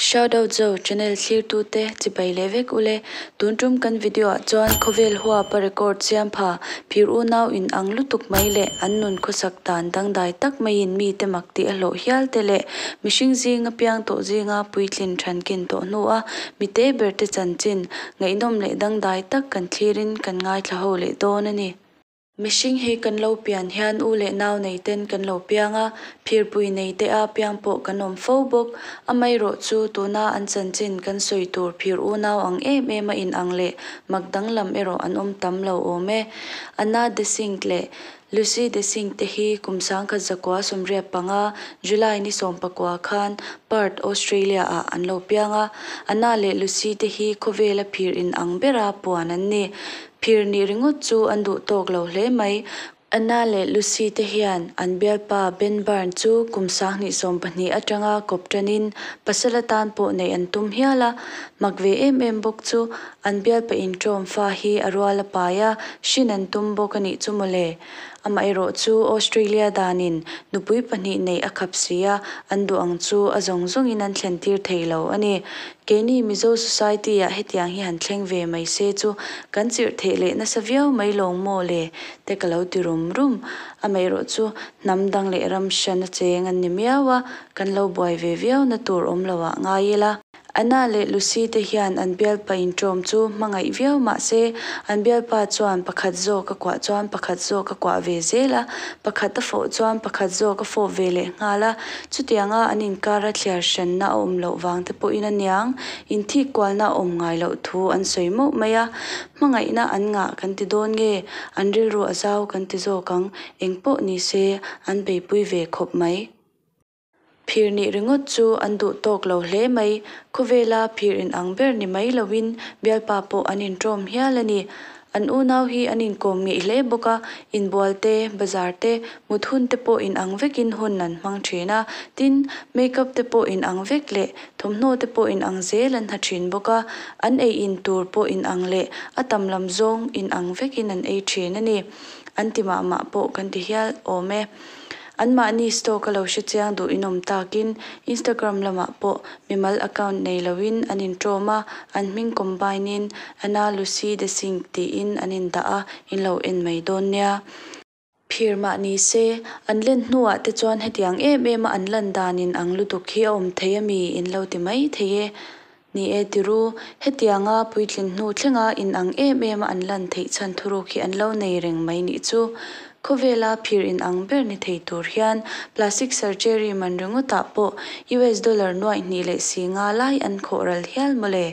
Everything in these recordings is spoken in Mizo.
Shoutout zo channel thlir tu te chibai leh vek ule. Tun tum kan video ah chuan khawvel huapa record siam pha, phir unau in ang lutuk mai leh an nun khawsak dan dangdai tak mai in mi te mak tih a hlawh hial te leh mihring zing a piang tawh zing a puitlin than kin tawh hnu a mi te ber te chanchin ngaihnawm leh dangdai tak kan thlir in kan ngaithla ho leh dawn a ni. Mihring hi kan lo pian hian u leh nau nei ten kan lo piang a, phirpui nei te a piang pawh kan awm fo bawk. Amaherawh chu tuna an chanchin kan sawi tur phir u nau ang em em a in ang leh mak dang lam erawh an awm tam lo awm e. Anna de Singh leh Lucy de Singh te hi kum sangkhat zakua sawmriat panga July ni sawm pakua khan Perth, Australia ah an lo piang a. Anna leh Lucy te hi khawvela phir in ang bera puan an ni. Phir nih ringawt chu an duh tawk lo hle mai. Anna leh Lucy te hian an bialpa Ben Byrne chu kum sang hnih sawm pahnih atanga kawp tanin pasal atan pawh neih an tum hial a. Mak ve em em bawk chu an bialpa inṭawm fa hi a rual a pai a, hrin an tum bawk a nih chu maw le. Amaherawh chu Australia danin nupui pahnih neih a khap si a, an duh ang chu a zawng zawngin an thlen tir thei lo a ni. Keini Mizo Society ah hetiang hi han thleng ve mai se chu kan chirhtheih leh nasa viau mai lo maw le te ka lo ti rum rum. Amaherawh chu hnam dang leh ram hran a cheng an ni miau a, kan lo buai ve viau na tur awm lo ah ngai ila. Anna leh Lucy te hian an bialpa intawm chu hmangaih viau mah se, an bialpa chuan pakhat zawk a kuah chuan pakhat zawk a kuah ve zel a, pakhat a fawh chuan pakhat zawk a fawh ve leh nghal a. Chutianga an inkar a thliar hrianna a awm loh vang te pawhin a niang in thik kualna a awm ngai loh thu an sawi mauh mai a. Hmangaihna an ngah kan ti dawn nge, an rilru a zau kan ti zawk ang, engpawh ni se an beipui ve khawp mai. Phir nih ringawt chu an duh tawk lo hle mai. Khawvela phir in ang ber ni mai lo in Bialpa pawh an in tawm hial a ni. An unau hi an in kawm ngei hle bawk a, in bual te, bazar te, mut hun te pawh in ang vek in hun an hmang thin a, tin, makeup te pawh in ang vek leh thawmhnaw te pawh in ang zel an ha thin bawk a, an ei in tur pawh in ang leh a tam lam zawng in ang vek in an ei thin a ni. An ti mah mah pawh kan ti hial awm e. Anmahni stock a lo hre chiang duh in awm takin Instagram lamah pawh mimal account nei loin an intawm a, an hming combine in Anna Lucy De Singh tiin an indah a, in lo en mai dawn nia. Phir mah ni se, an len hnuah te chuan hetiang em em a an lan danin ang lutuk hi a awm thei a mi in lo ti mai thei e. Ni e ti ru, hetianga puitlin hnu thlenga in ang em em a an lan theih chhan thuruk hi an lo nei reng mai nih chu. Khawvela phir in ang ber ni thei tur hian plastic surgery man ringawtah pawh US dollar nuai hnih leh si nga lai an khawh ral hial maw le.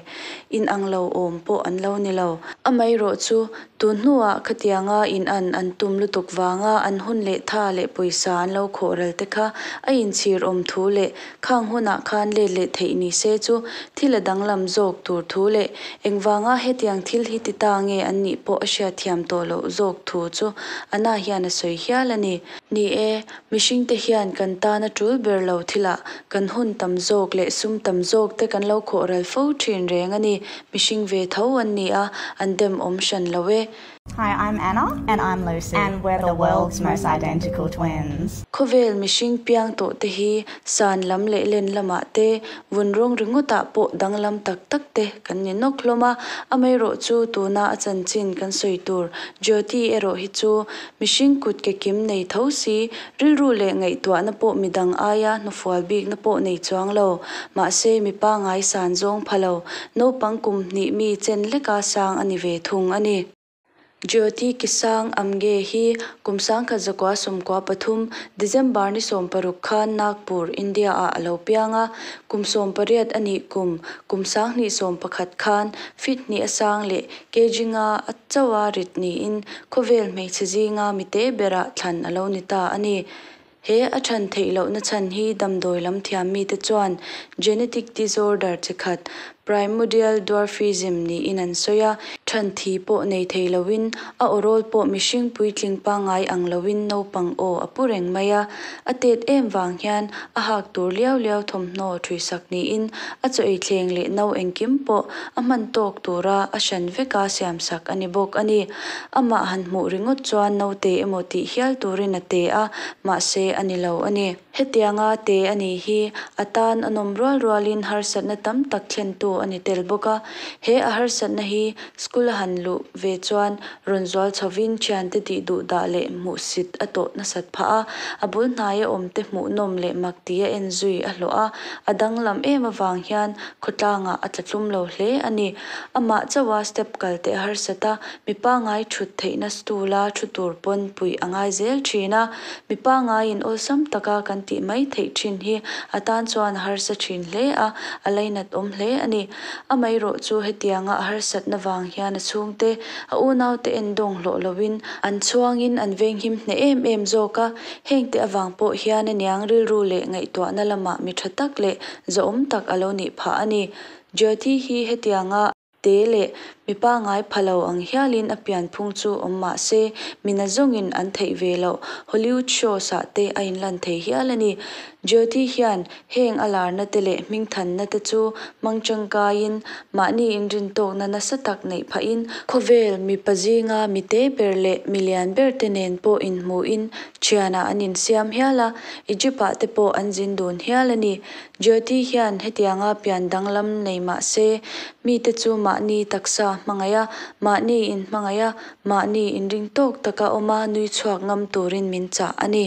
In ang lo awm pawh an lo ni lo. Amaherawh chu, tun hnuah khatianga in an an tum lutuk vanga an hun leh tha leh pawisa an lo khawh ralte kha a inchhir awm thu leh Khang hunah khan let leh theih ni se chu thil a danglam zawk tur thu leh engvanga hetiang thil hi ti ta nge an nih pawh a hria thiam tawh loh zawk thu chu Anna hian a sawi hial a ni. Ni e, mihringte hian kan tana tul ber lo thilah kan hun tam zawk leh sum tam zawk te kan lo khawhral fo thin reng a ni. Mihring ve tho an ni a, an demawm hran lo e. Hi I'm Anna and I'm Lucy and we're the world's most identical twins. Khawvel mihring piang tawh te hi san lam leh len lamah te, vun rawng ringawtah pawh danglam tak tak te kan ni nawk hlawm a, amaherawh chu tuna a chanchin kan sawi tur Jyoti erawh hi chu mihring kut ke kim nei tho si Rilru leh ngaihtuahna pawh midang aia hnufual bikna pawh nei chuang lo. Mahse, mi pangngai san zawng pha lo, naupang kum hnih mi chen leka sang a ni ve thung a ni. Jyoti Kisang Amge hi kum sangkhat zakua sawmkua pathum, December ni sawm paruk khan Nagpur, India ah a lo piang a. Kum sawm pariat a nih kum, kum sanghnih sawm pakhat khan Fithni a sang leh Kejinga a choa rit niin khawvel hmeichhe zinga mi te berah thlan a lo ni ta a ni. He a chhan theih loh na chhan hi damdawi lam thiam mi te chuan genetic disorder chi khat, primordial dwarfism, niin an sawi a, chhan thi pawh nei thei lo in a aw rawl pawh mihring puitling pangai ang lo in naupang aw a pu reng mai a. A tet em vang hian a hak tur liau liau thawmhnaw ṭhuihsak niin a chawih thleng leh no engkim pawh a hman tawk tura a hran vek a siamsak a ni bawk a ni. Amah han hmuh ringawt chuan naute emaw tih hial turin a te a, mahse a ni lo a ni. Hetianga te a nih hi a tan a nawm rual rualin harsatna tam tak thlentu a ni tel bawk a. He a harsatna hi school a han luh ve chuan Rawn zual chhovin thiante tih duh dah leh hmuh sit a tawh nasat phah a, a bul hnaia awmte hmuh nawm leh mak ti a en zui a hlawh a, a danglam em avang hian khawtlangah a tla tlum lo hle a ni. Amah chauha step kal teh a harsat a, mi pangngai thut theihna stool a thu tur pawn puih a ngai zel thin a, mi pangngaiin awlsam taka kan tih mai theih thin hi a tan chuan a harsa thin hle a, a lainat awm hle a ni. Amah erawh chu hetianga a harsatna vang hian a chhungte A unaute en dawng hlawh loin an chhuangin an veng him hneh em em zawk a, hengte avang pawh hian a niang rilru leh ngaihtuahna lama mi tha tak leh zawhawm tak a lo nih phah a ni. Jyoti hi hetianga te leh mi pangngai pha lo ang hialin a pianphung chu awm mah se, mina zawngin an theih ve loh Hollywood shows-ah te a inlan thei hial a ni. Jyoti hian Heng a larna te leh hming thanna te chu hmang tangkaiin mahni inrintawkna nasa tak neih phahin khawvel mipa zinga mite ber leh mi lian ber te nen pawh inhmuhin thianah an insiam hial a, Egypt-ah te pawh an zin dun hial a ni. Jyoti hian hetianga pian danglam nei mah se, mite chu mahni taksa hmangaih a, mahni inhmangaih a, mahni inringtawk taka awma nui chhuak ngam turin min chah a ni.